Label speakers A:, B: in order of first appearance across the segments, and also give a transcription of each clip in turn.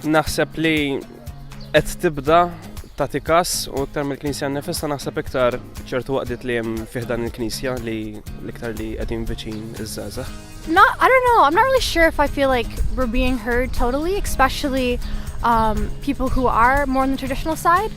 A: Naħseb li qed tibda tagħti kas u iktar mill-Knisja nifissa naħseb iktar ċertu waqdiet li hemm fih dan il-Knisja li l-iktar li qegħdin viċin iż-żgħażagħ. No, I don't know.
B: I'm not really sure if I feel like we're being heard totally, especially um, people who are more on the traditional side.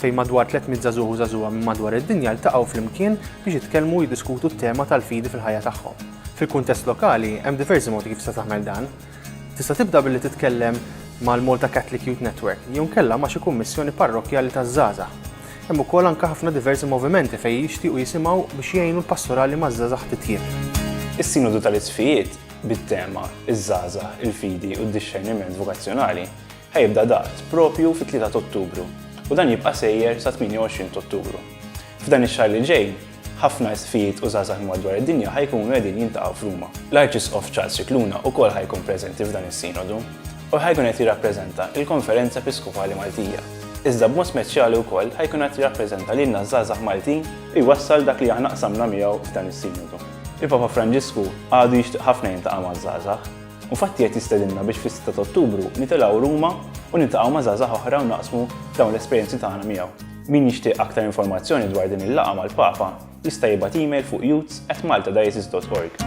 C: fejn madwar 300 żagħżugħ u żagħżugħa minn madwar id-dinja ltaqgħu flimkien biex jitkellmu u jiddiskutu t-tema tal-fidi fil-ħajja tagħhom. Fil-kuntest lokali, hemm diversi modi kif tista' tagħmel dan. Tista' tibda billi titkellem mal-Malta Catholic Youth Network jew inkella ma' xi kummissjoni parrokkjali taż-żgħażagħ. Hemm ukoll anke ħafna diversi movimenti fejn jixtiequ jisimgħu biex jgħinu l-pastorali maż-żgħażagħ titjieb. Is-Sinodu
D: tal-Isqfijiet, bit-tema Iż-Żgħażagħ, il-Fidi u d-Dixxerniment Vokazzjonali, Ħa jibda daqt proprju fit-3 ta' Ottubru u dan jibqa' sejjer sat-28 t'Ottubru. F'dan ix-xahar li ġej, ħafna isqfijiet u żgħażagħ madwar id-dinja ħa jkunu qegħdin jiltaqgħu f'Ruma. L-Arċisqof Charles Scicluna wkoll ħa jkun preżenti f'dan is-Sinodu u ħa jkun qed jirrappreżenta l-Konferenza Episkopali Maltija, iżda b'mod speċjali wkoll ħa jkun qed jirrappreżenta lilna ż-żgħażagħ Maltin u jwassal dak li aħna qsamna miegħu f'dan is-Sinodu. Il-Papa Franġisku għadu jixtieq ħafna jiltaqa' maż-żgħażagħ. U Fatti qed jistedinna biex fis-sitta ta' Ottubru nitilgħu Ruma u niltaqgħu ma' żgħażagħ oħra u naqsmu dawn l-esperjenzi tagħna miegħu. Min jixtieq aktar informazzjoni dwar din il-laqgħa mal-Papa jista' jibgħat email fuq youths@maltadiocese.org.